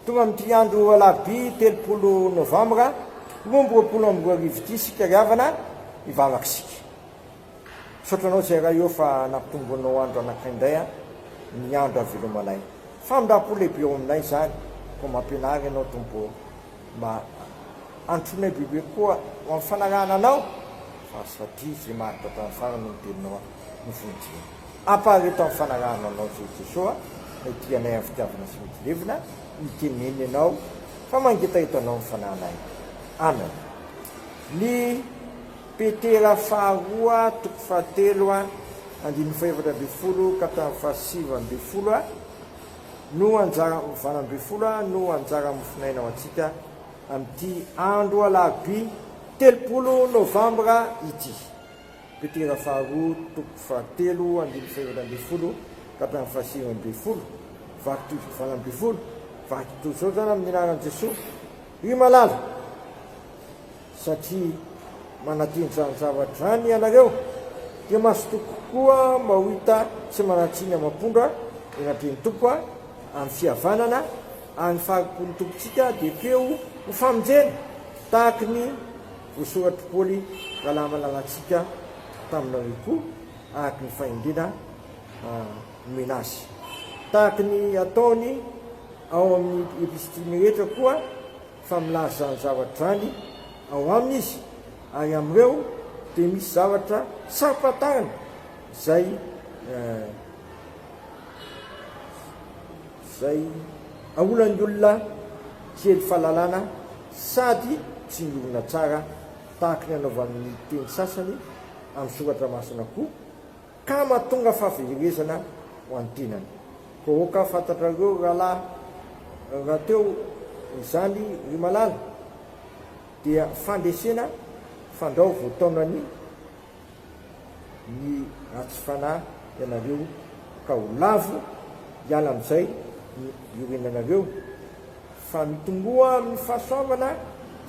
Tonga amin'ity andro alarobia telopolo novambra roa amby roapolo amby roa arivo ity isika ry havana hivavaka isika. Misaotra anao Jairay ô fa nampitombonao andro anankiray indray an, ny andro havelomanay. Famindram-po lehibe ao aminay izany koa mampianara ianao Tompo ô. Mba anotronay bebe koa ho amin'ny fanarahana anao fa aza faty izay maharitra hatramin'ny farany hono teninao an, no fonitsiana. Ampahareto amin'ny fanarahana anao Jeso Jeso a, ity anay amin'ny fitiavana sy mitsilevina, mitenena ianao fa mangetaheta anao ny fanahinay. Amen. Ny Petera faharoa toko fahatelo a, andininy fahefatra ambin'ny folo ka hatramin'ny fahasivy ambin'ny folo a, no anjara, valo ambin'ny folo a, no anjara mofon'aina ho antsika amin'ity andro alarobia telopolo novambra ity. Petera faharoa toko fahatelo andininy fahenina ambin'ny folo ka hatramin'ny fahasivy ambin'ny folo, vaky toy izao valo ambin'ny folo, vaky toy izao izany amin'ny anaran'i Jesoa, ry malala, satria manantena izany zavatra izany ianareo, dia mazotoa kokoa maoita sy manatsiny amam-pondra ny anatrehan'ny Tompo amin'ny fihavanana, ary ny fahari-pon'ny Tompontsika dia feo ho famonjena, tahaky ny. Voasoratr'i Paoly raha lava lalantsika taminareo koa, araka ny fahendrena nomena azy. Tahaka ny ataony ao amin'ny epistiliny rehetra koa, fa milaza izany zavatra izany ao aminy izy, ary amin'ireo dia misy zavatra tsy ampahafantarina izay izay aolan'ny olona kely fahalalana sady tsy miorina tsara tahaka ny anaovan'ny teny sasany amin'ny Soratra Masina koa, ka mahatonga fahaverezana ho an'ny tenany. Koa aoka fantatrareo rahalahy rahateo izany ry malala, dia fandresena fandrao voataonan'ny. ny ratsy fanahy ianareo ka ho lavo hiala amin'izay ny iorenanareo fa mitomboa amin'ny fahasoavana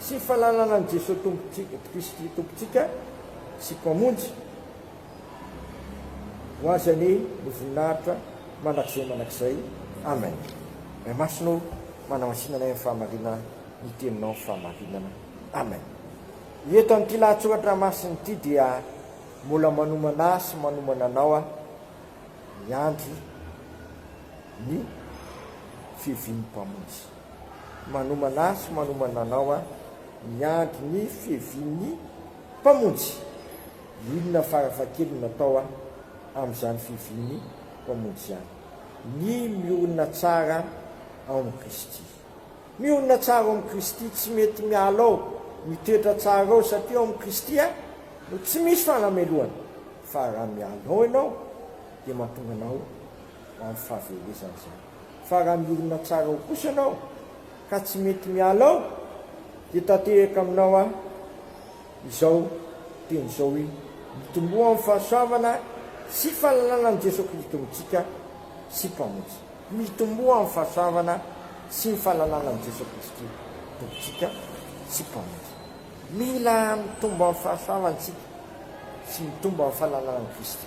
sy fahalalana an'i Jesoa Tompontsika Kristy Tompontsika sy Mpamonjy ho Azy anie ny voninahitra mandrakizay mandrakizay Amen Ray Masina ô manamasinanay amin'ny fahamarinana ny teninao fahamarinana Amen. Eto amin'ity lahatsoratra masina ity dia mbola manomana ahy sy manomana anao aho miandry ny fiavian'ny Mpamonjy. Manomana ahy sy manomana anao aho miandry ny fiavian'ny Mpamonjy. Inona farafahakeliny no atao amin'izany fiavian'ny Mpamonjy izany? Ny miorina tsara ao amin'i Kristy. Mionona tsara ao amin'i Kristy, tsy mety miala ao, mitoetra tsara ao satria ao amin'i Kristy no tsy misy fanamelohana, fa raha miala ao ianao dia mahatonga anao ho amin'ny fahaverezana izany, fa raha mionona tsara ao kosa ianao ka tsy mety miala ao dia tanteraka aminao aho izao teny izao hoe, mitomboa amin'ny fahasoavana sy fanananan'i Jesoa Kristy Tompon-tsika sy Mpamonjy. Mitomboa amin'ny fahasoavana sy ny fananana an'i Jesoa Kristy Tompontsika sy Mpamonjy. Mila mitombo amin'ny fahasoavana isika sy mitombo amin'ny fananana an'i Kristy.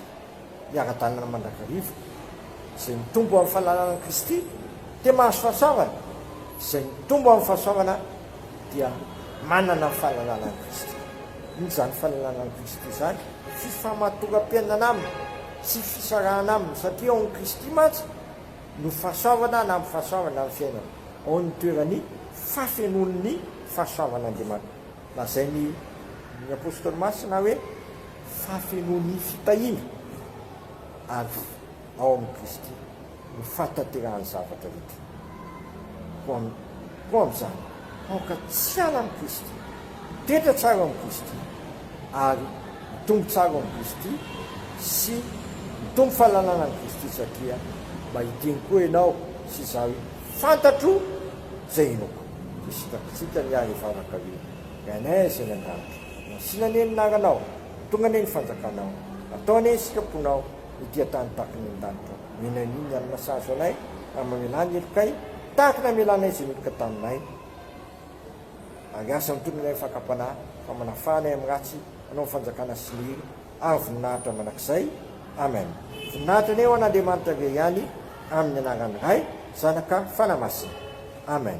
Miara-dalana mandrakariva. Izay mitombo amin'ny fananana an'i Kristy dia mahazo fahasoavana. Izay mitombo amin'ny fahasoavana dia manana ny fananana an'i Kristy. Inona izany fananana an'i Kristy izany? Fifamatoram-piainana Aminy. Tsy fisarahana aminy satria ao amin'i Kristy mantsy no fahasoavana na amim-pahasoavana amin'ny fiainana, ao amin'ny toeran'ny fafenoan'ny fahasoavan'Andriamanitra. Lazain'ny ny Apostoly Masina hoe fafenoan'ny fitahiana avy ao amin'i Kristy. ny fahatanterahan'ny zavatra rehetra. Koa amin'izany, aoka tsy hiala amin'i Kristy, hitoetra tsara ao amin'i Kristy, ary hitombo tsara ao amin'i Kristy, sy hitombo fahalalana an'i Kristy, satria mba hiteny koa ianao sy izaho fantatro izay inoako. Dia sitrapitsitrany aho hivavaka hoe, Reanaizy any an-danitra, nasiana anie ny anaranao, tonga anie ny fanjakanao, atao anie ny sitraponao, Ity an-tany tahaka ny an-danitra Mila an'io ny alina sahaza anay Ary mamelà ny helokay Tahaka ny hamelanay izay meloka taminay Ary asa mitombo ny anay fakam-panahy Fa manafà anay amin'ny ratsy Anao ny fanjakana sy ny hery Ary voninahitra mandrakizay Amen Voninahitra anie ho an'Andriamanitra irery ihany Amin'ny anaran'ny Ray, Zanaka, Fanahy Masina. Amen.